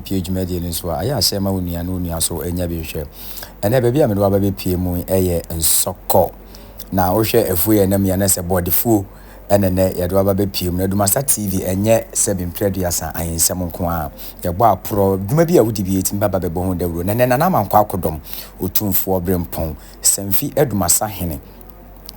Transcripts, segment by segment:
pue dwumadie no nso a, ayɛ asɛm ma wo nua na wo nua nso nya bi hwɛ. Ɛnnɛ baabi a mede wo aba bɛpue mu yi yɛ Nsɔkɔ, na wohwɛ afuo yi a ɛnam yi a, na sɛ Bɔɔdefuo na nnɛ yɛde wo aba bɛpue mu. Na Dumasa TV ɛnyɛ sɛ me mprɛ aduasa ayɛnsɛm nko ara, yɛbɔ aporɔ, dwuma bi a wodi bi a ɛtumi ba ba bɛbɔ ho dawuro. Na nnɛ Nana Amankwa Akodɔm, Otumfoɔ Brempɔn, Samfi Dumasa Hene,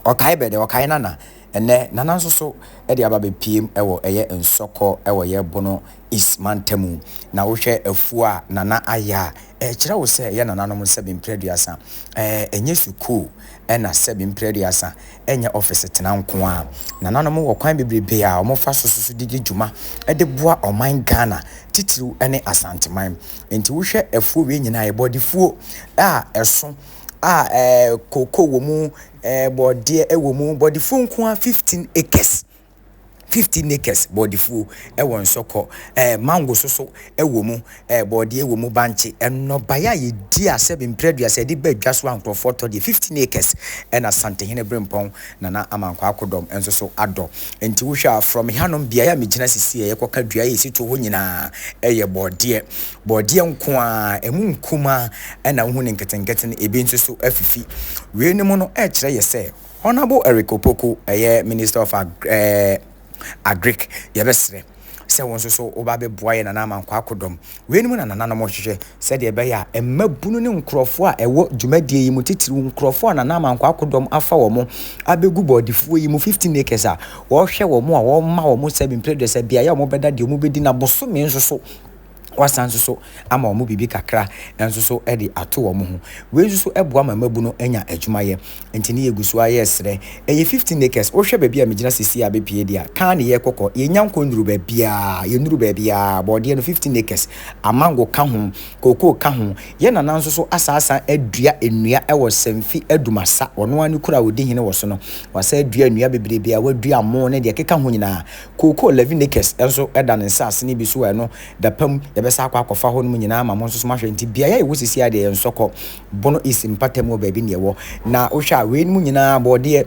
ɔkae bɛ dɛ, ɔkae Nana. Ɛnnɛ, Nana nso so de aba abɛpiem wɔ ɛyɛ Nsɔkɔ wɔ yɛ Bono East mantamu. Na wohwɛ afuo a Nana ayɛ a, ɛkyerɛ wo sɛ yɛ nananom sɛbe mprɛduasa ɛɛ nyɛ sukuu ɛna sɛbe mprɛduasa nyɛ ɔfese tena nko ara. Nananom wɔ kwan bebrebe a wɔfa so soso de di dwuma de boa ɔman Ghana titiriw ne Asanteman. Nti wohwɛ afuo wei nyinaa yɛ bɔdefuo a ɛso a ɛɛ kokoo wɔ mu, Ɛɛ bɔɔdeɛ ɛwɔ mu bɔɔdefuo nko ara fifteen acres fifteen acres bɔɔdefuo ɛwɔ nsɔkɔ ɛɛ mango soso ɛwɔ mu ɛɛ bɔɔdeɛ ɛwɔ mu bankye ɛnɔbaeɛ a yɛdi asɛ bemprɛduasa yɛde ba dwa so a nkorɔfoɔ tɔ deɛ fifteen acres ɛna santehene berempɔn nana amankwaa akodɔm nso so adɔ nti wohwɛ a from hanom beaeɛ a megyina sisi a yɛkɔka dua a ɛsi toɔ hɔ nyinaa ɛyɛ bɔɔdeɛ Borɔdeɛ nko ara, ɛmu nkumaa na wohu ne nketenkete no, ebi nso so afifi. Weinom no kyerɛ yɛ sɛ Honourable Eric Opoku, ɛyɛ Minister of Agri eh, Agric, yɛbɛsrɛ sɛ wo nso so woba bɛboa yɛ Nana Amankwaa akodɔm. Weinom na nananom rehwehwɛ sɛdeɛ ɛbɛyɛ a mmabunu ne nkurɔfoɔ a ɛwɔ dwumadie yi mu titiriw nkurɔfoɔ a Nana Amankwaa akodɔm afa wɔn abɛgu bɔɔdefuo yi mu 15 acres a wɔhwɛ wɔn a wɔma wɔn sɛ mprɛduasa beaeɛ a wɔbɛda deɛ wɔbɛdi na bosome nso so Woasan nso so ama wɔn biribi kakra nso so de ato wɔn ho. Wei nso so boa ma mmabunu nya adwumayɛ. Enti ne yɛgu so ara yɛresrɛ. Ɛyɛ fifteen acres. Wohwɛ baabi a megyina seesei a bepue deɛ a, kaa ne yɛrekɔkɔ. Yɛnnya nkɔnnuru baabiara. Yɛnnuru baabiara. Borɔdeɛ no, fifteen acres. Amango ka ho. Kookoo ka ho. Yɛn nana nso so asan asan adua nnua wɔ Sanfi Adumasa. Ɔno ara ne kuro a ɔdi hene wɔ so no. Wasan adua nnua bebrebe a wadua amoo ne deɛ ɛkeka ho nyinaa. Kookoo Levinicus nso da ne nsase no bi so a ɛno dapɛm yɛbɛsan akɔ akɔfa hɔ nom nyinaa ama mo nso so moahwɛ. Nti beaeɛ a yɛwɔ sisi ara deɛ yɛ Nsɔkɔ, Bono East mpata mu hɔ baabi na yɛwɔ. Na wohwɛ a wei nom nyinaa bɔɔdeɛ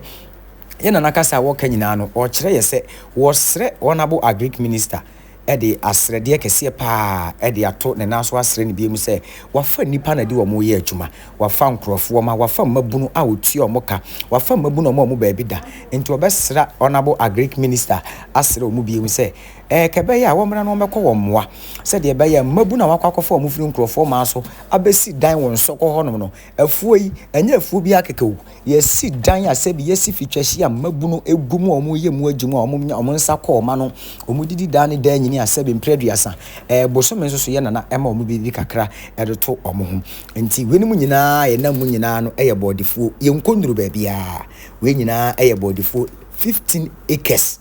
yɛ Nana kasa a wɔka nyinaa no ɔkyerɛ yɛ sɛ wɔsrɛ Honourable Agric Minister de asrɛdeɛ kɛseɛ paa de ato ne nan so asrɛ no biom sɛ wafa nnipa na de wɔn reyɛ adwuma. Wɔafa nkurɔfo, wɔma wɔafa mmabunu a wɔtua wɔn ka, wɔafa mmabunu a wɔma wɔn baabi da, enti wɔbɛsra Honourable Agric Minister asrɛ wɔn bio sɛ ɛɛkɛbɛyɛ a wɔmmra na wɔmmɛkɔ wɔn mmoa sɛdeɛ ɛbɛyɛ a mmabunu a wɔakɔ akɔfa wɔn firi nkurɔfoɔ maa so abɛsi dan wɔ Nsɔkɔ hɔnom no, afuo yi, ɛnyɛ afuo biara kɛkɛ o, yɛasi dan a sɛbi yɛasi fi twɛhye a mmabunu gu mu a wɔyɛ mu agye mu a wɔnya wɔn nsa kɔ wɔn ano, wɔdi di daa ne daa nyini a sɛbi mprɛ aduasa, ɛɛ bosome nso so yɛ nana ɛma wɔn biribi kakra ɛde to wɔn ho. Enti weinom nyinaa a yɛnam mu nyinaa no yɛ bɔɔdefuo, yɛnkɔ nnuru baabiara. Wei nyinaa yɛ bɔɔdefuo fifteen acres.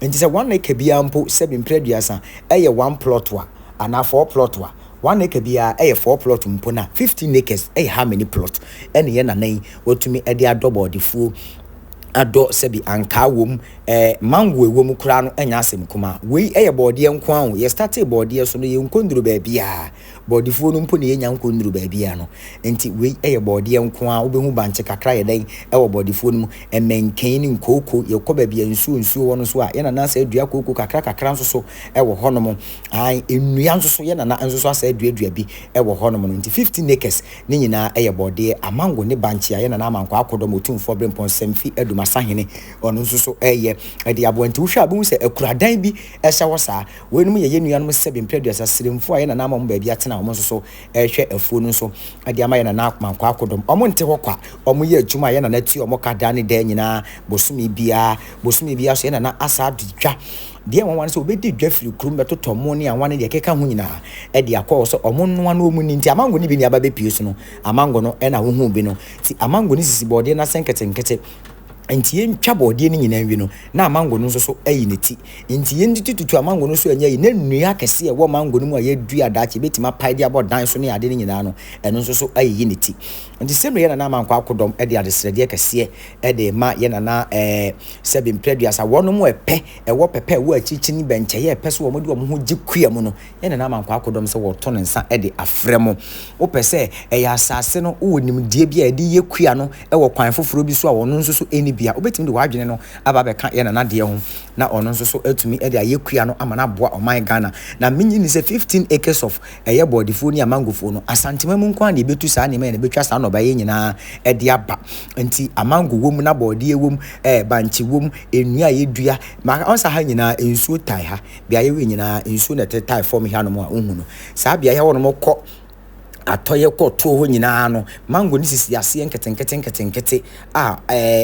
Enti sɛ one acre biara mpo, sɛbi mprɛ aduasa, yɛ one plot a, anaa four plot a, one acre biara yɛ four plot mpo no a, fifteen acres yɛ how many plot? Ɛne yɛn nana yi watumi de adɔ bɔɔdefuo, adɔ sɛbi ankaa wɔ mu, eh, mango wɔ mu koraa no nyɛ asɛm kumaa. Wei yɛ bɔɔdeɛ nko ara o, yɛstartee bɔɔdeɛ so no, yɛnkɔ nnuru baabiara. Bɔɔdefuo no mpo na yɛnnya nkɔ nnuru baabiara no. Enti wei yɛ bɔɔdeɛ nko ara, wobɛhu bankye kakra yɛ dɛn wɔ bɔɔdefuo no mu, mmɛnkɛn ne nkooko. Yɛkɔ baabi a nsuo nsuo wɔ no nso a, yɛn nana asan adua kooko kakra kakra nso so wɔ hɔnom. Ae, nnua nso so, yɛn nana nso so asan aduadua bi wɔ hɔnom no. Nti fifteen acres no nyinaa yɛ bɔɔdeɛ, amango ne bankye a yɛn nana Amankwaa Akodɔm, Otumfoɔ Ɔberempɔn Samfi Adum Asahene, ɔno nso so reyɛ de aboa. Nti wohwɛ a wobɛhu sɛ akuradan bi Ɛhyɛ hɔ saa. Weinom yɛ yɛn nuanom sɛbe mpere aduasa, sremfo a yɛn nana ama wɔn baabi atena a wɔn nso so rehwɛ afuo no nso de ama yɛn nana Mankwaa Akodom. Wɔn nte hɔ kwa. Wɔn yɛ adwuma a yɛn nana tua wɔn ka daa ne daa nyinaa, bosome biara. Bosome biara nso yɛn nana asa adi dwa. Deɛ nwanwa ne sɛ wɔbɛdi dwa firi kurom bɛtotɔ mo ne anwa ne deɛ ɛkeka ho nyinaa de akɔ hɔ sɛ wɔn nnoa na wɔn nni. Nti amango no bi nnuaba bɛpue so no, amango no na wohuu bi no. Nti amango no sisi bɔɔdeɛ no ase nketenkete. Enti yentwa borɔdeɛ no nyinaa nwi no, na amango no nso so ayi ne ti. Enti yɛntete tutu amango no so anya yi, na nnua akɛseɛ a ɛwɔ mango no mu a yɛadua daakye yɛbɛtumi apae de abɔ dan so ne adeɛ no nyinaa no, ɛno nso so ayiyi ne ti. Enti Simri yɛn nana Amankwa akodɔm de adesrɛdeɛ kɛseɛ de rema yɛn nana ɛɛ Sɛbi Mprɛduasa, wɔnom ɛpɛ, ɛwɔ pɛpɛ a ɛwɔ akyirikyini bɛnkyɛeɛ a ɛpɛ sɛ wɔde wɔn ho gye kua mu no, ɛna na ama nkwakodɔm sɛ wɔto ne nsa de afrɛ mo. Wopɛ sɛ ɛyɛ asase no, wowɔ nimdeɛ bi a ɛde yɛ kua no wɔ kwan foforɔ bi so a ɔno nso so ɛnni bi a, wobɛtumi de w'adwene no aba abɛka yɛ Nana deɛ ho na ɔno nso so atumi de ayɛ kua no ama no aboa ɔman Ghana. Na mennye nni sɛ 15 acres of ɛyɛ bɔɔdefoɔ ni a mangofoɔ no, Asantema mu nko ara na yɛbɛtu saa nneɛma yi na ɛbɛtwa saa nnɔbaeɛ yi nyinaa de aba. Nti amango wɔ mu na bɔɔdeɛ wɔ mu, ɛɛ bankye wɔ mu, nnua a yɛdua, ma ɔnsa ha nyinaa nsuo tae ha. beaeɛ wei nyinaa nsuo na ɛte tae fam ha nom a wohu no saa beaeɛ hɔ nom kɔ atɔyɛ kɔ tuo hɔ nyinaa no mango ne sisi aseɛ nketenkete nketenkete a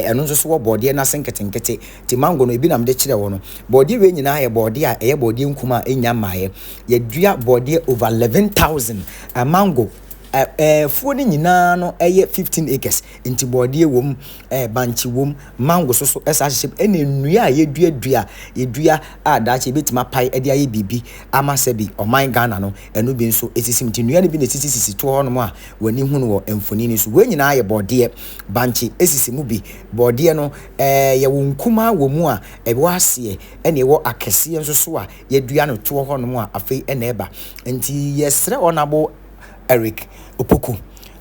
ɛno nso so wɔ bɔɔdeɛ no ase nketenkete te mango no ebi nam de kyerɛ wɔ no bɔɔdeɛ wei nyinaa yɛ bɔɔdeɛ a ɛyɛ bɔɔdeɛ nkum a ɛnya mmaeɛ yɛdua bɔɔdeɛ over 11000 mango Ɛ ɛɛ afuo no nyinaa no yɛ fifteen acres nti bɔɔdeɛ wɔ mu ɛɛ bankye wɔ mu mango so so ɛsa ahyehyɛ mu ɛna nnua a yɛduadua yɛdua a daakye yɛbɛtumi apae de ayɛ biribi ama sɛ bi ɔman Ghana no ɛno bi nso ɛsisi mu nti nnua no bi na ɛsisisisi toɔ hɔnom a w'ani hunu wɔ mfoni no so wei nyinaa yɛ bɔɔdeɛ bankye ɛsisi mu bi bɔɔdeɛ no ɛɛ yɛwɔ nkumaa wɔ mu a ɛwɔ aseɛ ɛna ɛwɔ akɛseɛ nso so a Yɛadua no toɔ hɔnom a afei na ɛreba. Nti yɛsrɛ Honourable Eric Opoku,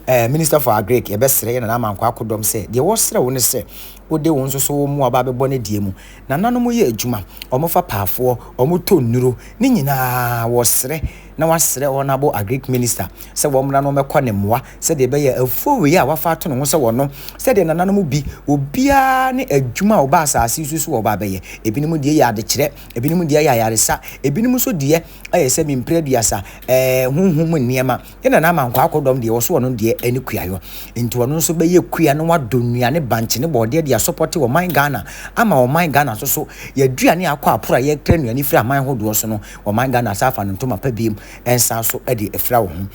eh, Minister for Agric, yɛbɛsrɛ yɛn Nana Amankwa akodɔm sɛ, deɛ wɔsrɛ wo ne sɛ, wode wo nso so wo mmoa ba bɛbɔ no deɛ mu. Nana nom yɛ adwuma, wɔfa paafoɔ, wɔtɔ nnuro, ne nyinaa wɔsrɛ na wasrɛ Honourable Agric Minister sɛ wɔmmra na wɔmmɛkɔ ne mmoa sɛdeɛ ɛbɛyɛ afuo wei a wafa ato ne ho sɛ wɔno sɛdeɛ Nananom bi, obiara ne adwuma a ɔba asase yi so so a ɔba abɛyɛ. Ebinom deɛ yɛ adekyerɛ. Ebinom deɛ yɛ ayaresa, ebinom nso deɛ ayɛ sɛ mempere aduasa, ɛɛ honhom mu nneɛma. Yɛn nana ama nkwaa akɔdɔm deɛ ɔso ɔno deɛ ɛne kuayɔ. Nti ɔno nso bɛyɛ kua na wadɔ nnuane bankye ne bɔɔdeɛ de asɔpɔte ɔman Ghana ama ɔman Ghana nso so yɛaduane a akɔ aporo a yɛkra nnuane firi aman hodoɔ so no ɔman Ghana san afa no ntoma pa biom nsan so de afira wɔ ho.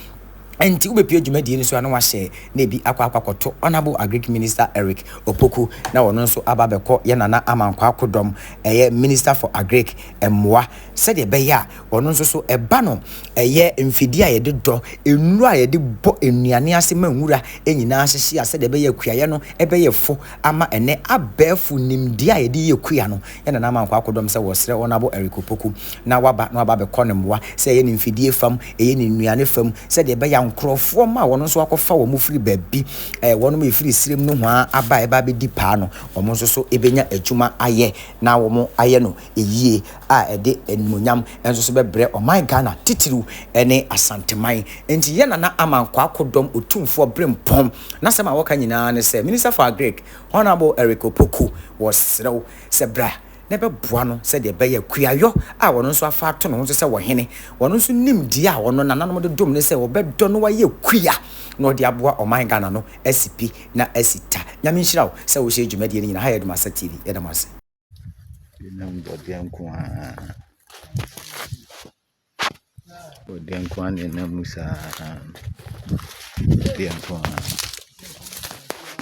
Ɛnti wobɛpue dwumadie no so a na wahyɛ na ebi akɔ akɔ akɔto Honourable Agric Minister Eric Opoku na ɔno nso aba abɛkɔ yɛ Nana Amankwa Akodɔm ɛyɛ Minister for Agric mmoa sɛdeɛ ɛbɛyɛ a ɔno nso so ɛba no ɛyɛ mfidie a yɛde dɔ, nnuro a yɛde bɔ nnuane ase ma nwura nyinaa hyehye a sɛdeɛ ɛbɛyɛ a kuayɛ no ɛbɛyɛ fo ama ɛnɛ abɛɛfo nimdeɛ a yɛde yɛ kua no. na na ama nkoa akodɔm sɛ wɔsrɛ wɔn abɔ Eric Opoku na waba na waba abɛkɔ ne mmoa sɛ ɛyɛ ne mfidie fam, ɛyɛ ne nnuane fam sɛdeɛ ɛbɛyɛ a nkorɔfoɔ mma a wɔn nso akɔfa wɔn firi baabi ɛɛ wɔnom a ɛfiri serem nohoa aba ɛba abɛdi paa no wɔn nso so ɛbɛnya adwuma ayɛ na wɔn ayɛ no yie a ɛde animuonyam nso so bɛbrɛ ɔman Ghana titiriw ne Asanteman. Nti yɛ Nana Ama Nkoa akodɔm Otumfoɔ Brempɔn n'asɛm a wɔka nyinaa ne sɛ Minister for Agric Honourable Eric Opoku, wɔsrɛ wo sɛ bra na bɛboa no sɛdeɛ ɛbɛyɛ a Kuayɔ a ɔno nso afa ato ne ho so sɛ ɔhene, ɔno nso nim deɛ a ɔno nananom de dom no sɛ wɔbɛdɔ no ayɛ kua na ɔde aboa ɔman Ghana no asi pi na asi ta. Nyame nhyira wo sɛ wohyɛ dwumadie no nyina ha yɛ Dumasa TV. Yɛda mo ase. Binom bɔdeɛ nko ara, bɔdeɛ nko ara na ɛnam mu saa, bɔdeɛ nko ara.